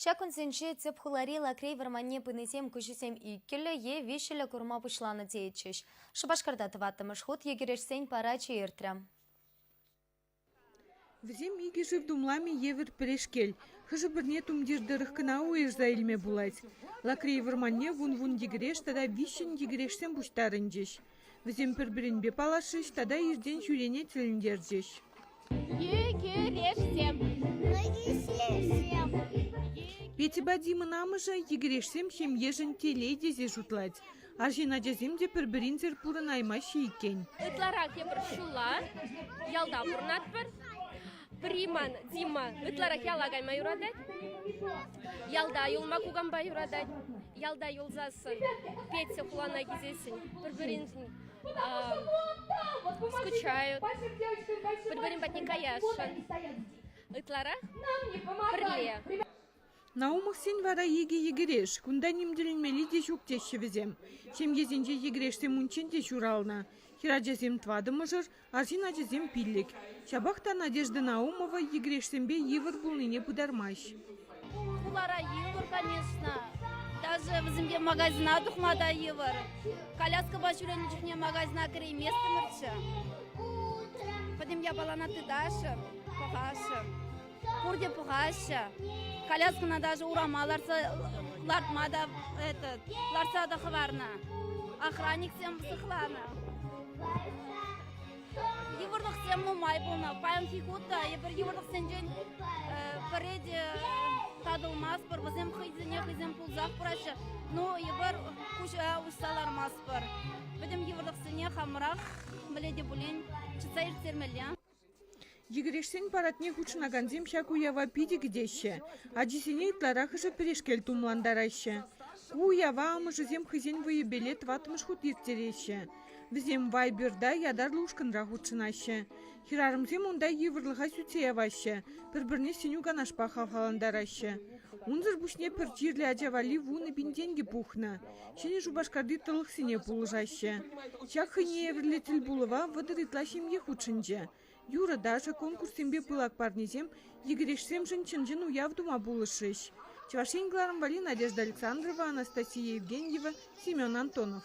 Ҫак кунсенче тӗп хулари Лакрей вӑрманне пынисем куҫӗсем иккӗллӗ е виҫҫӗллӗ курма пуҫланӑ теетчӗҫ. Шупашкарта тӑваттӑмӗш хут йӗкӗрешсен парачӗ иртрӗ. Вӗсем икӗ шыв тумламӗ евӗр пӗрешкел. Хӑшӗ-пӗрне тумтир тӑрӑх кӑна уйӑрса илме пулать. Лакрей вӑрманне вун-вун йӗкӗреш тата виҫҫӗн йӗкӗрешсем пуҫтарӑнчӗҫ. Вӗсем пӗр-пӗринпе паллашӗҫ тата иртен ҫӳрене тӗлӗнтерчӗҫ. Петьӑпа Димӑн амӑшӗ йӗкӗрешсем ҫемьешӗн телей тесе шутлать. Арҫын ачасем те пӗр-пӗринсӗр пурӑнаймаҫҫӗ иккен. Ытларах тепӗр ҫула ялта пурӑнатпӑр. Приман Дима ытларах яла кайма юратать. Ялта юлма кукампа юратать. Ялта юлсассӑн, Петя хулана килсессӗн пӗр-пӗриншӗн скучают, пӗр-пӗрин патне каясшӑн. Ытларах пӗрле. Наумовсен вара икӗ йӗкӗреш, кунта ним тӗлӗнмелли те ҫук теҫҫӗ вӗсем. Ҫемьесенче йӗкӗрешсем унччен те ҫуралнӑ. Хӗрачасем тӑватӑмӑшӑр, арҫын ачасем пиллӗк. Ҫапах та Надежда Наумова йӗкӗрешсемпе йывӑр пулнине пытармасть. Хулара йывӑр, конечно. Даже вӗсемпе магазина тухма та йывӑр. Коляскӑпа ҫӳренӗ чухне магазина кӗрейместӗмӗрччӗ. Пӗтӗм япалана тыташӑн, пӑхашӑн. Пурте пӑхаҫҫӗ. Коляскӑна даже урама лартса лартма та этот, лартса та хӑварнӑ. Охранниксем сыхланӑ. Йывӑрлӑхсем нумай пулнӑ. Паянхи хут та эпир йывӑрлӑхсенчен пӗри те татӑлмастпӑр. Вӗсем хӑйсене хӑйсем пулсах пыраҫҫӗ. Ну, эпир куҫа уҫса лармастпӑр. Пӗтӗм йывӑрлӑхсене хамӑрах мӗнле те пулин чӑтса ирттермелле. Йӗкӗрешсен парадне хутшӑнакансем ҫак уява питӗ кӗтеҫҫӗ, ачисене ытларахӑшӗ пӗрешкел тумлантараҫҫӗ. Ку уява амӑшӗсем хӑйсен вӑйӗпеле тӑваттӑмӗш хут ирттереҫҫӗ. Вӗсем Вайберта ятарлӑ ушкӑнра хутшӑнаҫҫӗ. Хӗрарӑмсем унта йывӑрлӑха сӳтсе яваҫҫӗ, пӗр-пӗрне сӗнӳ-канашпа хавхалантараҫҫӗ. Унсӑр пуҫне пӗр чирлӗ ача валли вунӑ пин тенкӗ пухнӑ. Ҫӗнӗ Шупашкарти тӑлӑхсене пулӑшаҫҫӗ. Ҫак хӑйне евӗрлӗ тӗлпулӑва вӑтӑр ытла ҫемье хутшӑнчӗ. Юрӑ-ташӑ, конкурссемпе пылак парнесем, йӗкӗрешсемшӗн чӑн-чӑн уяв тума пулӑшрӗҫ. Чӑваш Ен кӑларӑмвари Надежда Александрова, Анастасия Евгеньева, Семен Антонов.